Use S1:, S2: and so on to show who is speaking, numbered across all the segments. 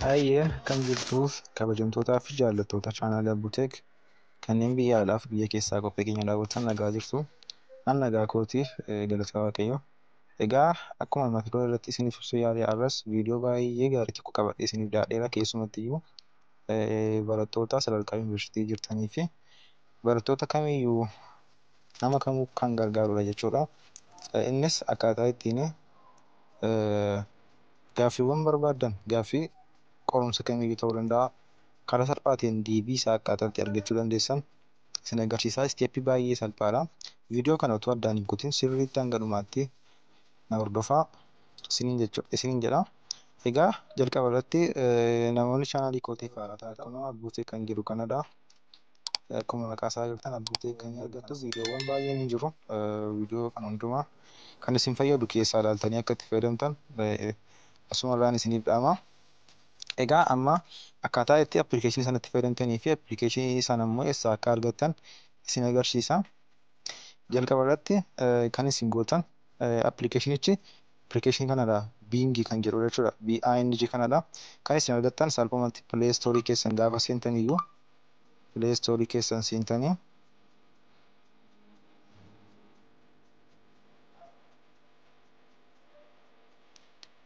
S1: Hayyee akkam jirtuuf kabajamtootaa fi jaallattoota chaanaala Buteek kanneen biyya alaa fi biyya keessaa qophii keenya daawwatan nagaa jirtu. An nagaa kootiif galata waaqayyo. Egaa akkuma mata duree irratti isiniif ibsuu yaale har'as viidiyoo baay'ee gaarii tokko qabadhee isiniif dhiyaadheera keessumatti iyyuu barattoota sadarkaa yuunivarsiitii jirtanii fi barattoota kamiyyuu nama kamuu kan gargaarudha jechuudha. Innis akkaataa ittiin gaaffiiwwan barbaaddan gaaffii qorumsa kamiyyuu ta'uu danda'a. Karaa salphaatiin deebii isaa akkaataa itti argachuu dandeessan isin agarsiisaa. Isteeppii baay'ee salphaadha. Viidiyoo kana otoo addaan hin kutin sirriitti hanga dhumaatti na hordofaa isiniin jedha. Egaa jalqaba irratti namoonni chaanaalii kootiif haaraa taatan kunoo abbuutee kan jiru kanadha. Akkuma maqaa isaa argitan abbuutee kan argattu viidiyoowwan baay'een hin jiru. Viidiyoo kan hundumaa kan isin fayyadu keessaa ilaaltanii akka itti fayyadamtan asuma irraan isiniif dhaama. Egaa amma akkaataa itti appilikeeshinii sana itti fayyadamtanii fi appilikeeshinii sana immoo eessaa akka argattan isin agarsiisa. Jalqaba irratti kan isin gootan appilikeeshinichi Appilikeeshinii kanadha Bing kan jedhudha jechuudha. BING kanadha. Kan isin argattan salphumatti play store keessan gaafa seentaniyyuu play store keessan seentanii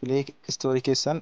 S1: play store keessan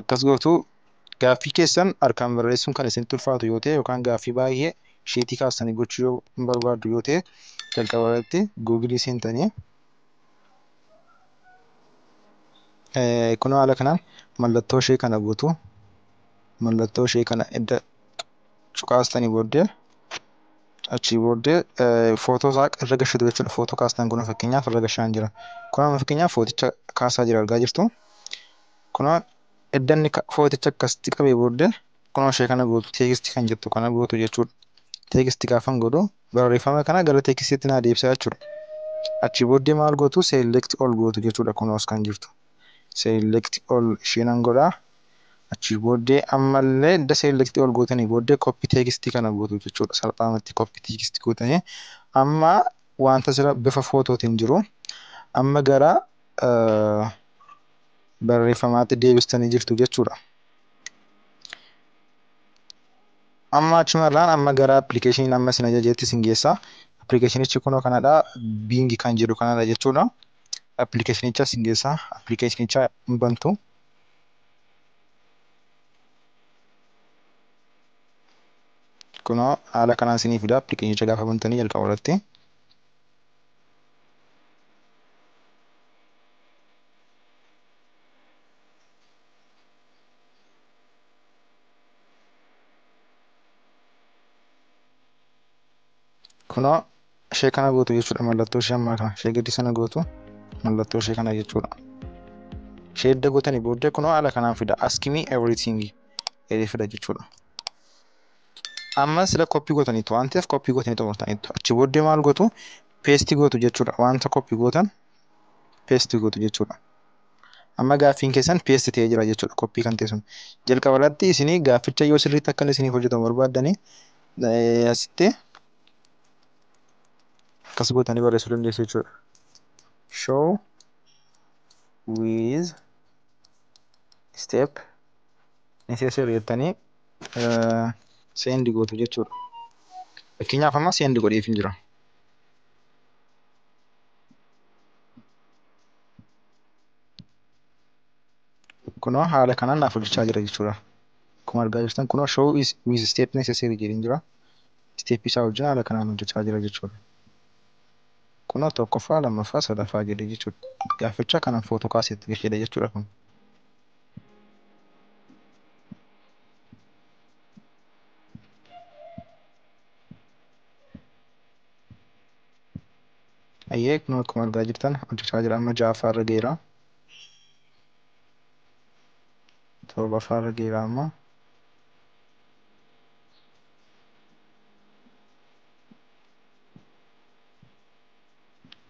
S1: Akkas gootu, Gaaffii keessan harkaan barreessuun kan isinitti ulfaatu yoo ta'e yookaan gaaffii baay'ee sheetii kaastanii gochuu yoo hin barbaaddu yoo ta'e jalqaba irratti Google seentanii kunoo haala kanaan mallattoo ishee kana gootu. Mallattoo ishee kana edda cuqaastanii booddee Achii booddee footoo isaa irra gashitu jechuudha. Footoo kaastan kun fakkeenyaaf irra gashaan jira. Kun amma fakkeenyaaf footicha kaasaa jira argaa jirtu. Kunoo edda inni footicha akkasitti qabee booddee kunoo ishee kana gootu teekisti kan jettu kana gootu jechuudha. Teekisti gaafan godhu barreeffama kana gara teekistiitti naa deebisaa jechuudha. Achii booddee maal gootu seelekti ol gootu jechuudha kunoos kan jirtu. Seelekti ol ishee nan godhaa Achii booddee ammallee edda selecti ol gootanii booddee copy text kana gootu jechuudha. Salphaamatti copy text gootanii amma wanta sira bifa footootiin jiru amma gara barreeffamaatti deebistanii jirtu jechuudha. Amma achumarraan amma gara appilikeeshiniin amma isin ajajeetti isin geessa. Appilikeeshinichi kunoo kanadha. Biingi kan jedhu kanadha jechuudha. Appilikeeshinicha isin geessa. Appilikeeshinicha hin bantu. kunoo haala kanaan isinii fida appilikeeshinicha gaafa bantanii jalqaba irratti kunoo ishee kana gootu jechuudha mallattoo ishee ammaa kana ishee gadi sana gootu mallattoo ishee kana jechuudha ishee edda gootanii booddee kunoo haala kanaan fida askimii everything jedhee fida jechuudha amma sila koppii gootaniitu waan ta'eef koppii gootanii xumurtaniitu achi booddee maal gootu peestii gootu jechuudha wanta koppii gootan peestii gootu jechuudha amma gaaffiin keessan peestii ta'ee jira jechuudha koppii kan ta'e sun jalqabarratti isinii gaafficha yoo sirriitti akkan isiniif hojjetamu barbaaddanii asitti akkas gootanii barreessuu dandeessu jechuudha. Show with step necessary jettanii seendi gootu jechuudha. Fakkeenyaaf amma seendi godheef hin jira. Kunoo haala kanaan naaf hojjechaa jira jechuudha. Akkuma argaa jirtan kunoo show with step necessary jedheen jira. step isaa hojii haala kanaan hojjachaa jira jechuudha. Kunoo tokkoffaa, lammaffaa, sadaffaa jedhee jechuudha. Gaaffachaa kanan photo kaasee itti galchedha jechuudha kun. Ayyee kunoo akkuma argaa jirtan hojjachaa jira amma ja'affaa irra geera. Torbaffaa irra geera amma.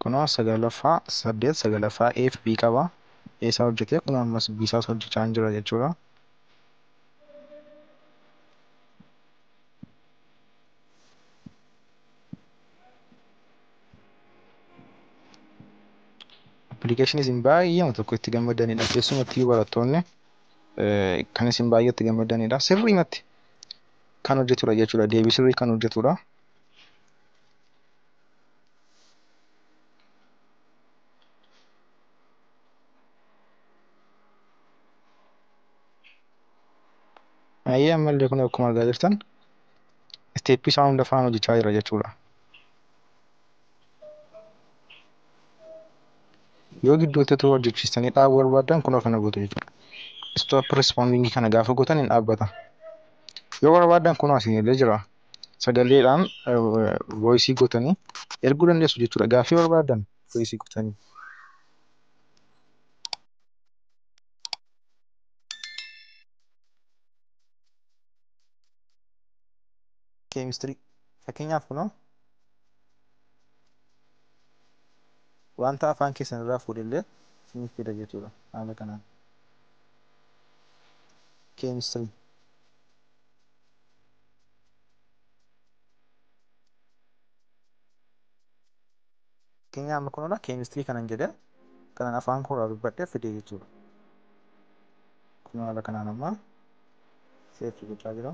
S1: kunoo sagalaffaa saddeet sagalaffaa A fi B qaba A isaa hojjetee kunoo ammas B isaas hojjechaa hin jira jechuudha. Appilikeeshinii isin baay'eema tokko itti gammadanidha keessumattuu barattoonni kan isin baay'ee itti gammadanidha sirriimatti kan hojjetudha jechuudha. Deebii sirrii kan hojjetudha. Ayyee ammallee kun akkuma argaa jirtan isteeppii isaa hunda faana hojjechaa jira jechuudha. yoo gidduutti utuu hojjechiistanii dhaabuu barbaadan kunoo kana gootu jechuudha. Stop responding kana gaafa gootan hin dhaabbata. Yoo barbaadan kunoo asiin illee jira. Sagaleedhaan voice gootanii erguu dandeessu jechuudha. Gaaffii barbaadan voice gootanii. Keemistirii fakkeenyaaf kunoo Wanta afaan keessan irraa fuudhe illee isiniif fida jechuudha. Haala kanaan. Chemistry. Fakkeenyaa amma kunuuna chemistry kanan jedhe kanan afaan koo irraa dubbadhe fide jechuudha. Kun haala kanaan amma seerri gochaa jira.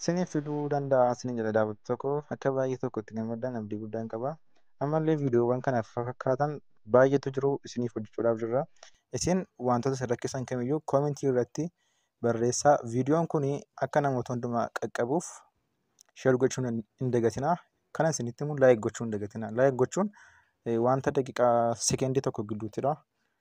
S1: Isiniif fiduu danda'a isiniin jedha daawwattoota koo akka baay'ee tokko itti gammaddan abdii guddaan qaba. Ammallee viidiyoowwan kana fakkaatan baay'eetu jiru isiniif hojjechuudhaaf jirra. Isin wantoota isin rakkisan kamiyyuu koomentii irratti barreessaa. Viidiyoon kun akka namoota hundumaa qaqqabuuf sheer gochuun hin dagatinaa. Kana isinitti immoo laayik gochuu hin dagatinaa. Laayik gochuun wanta daqiiqaa sekendii tokko gidduuttidha.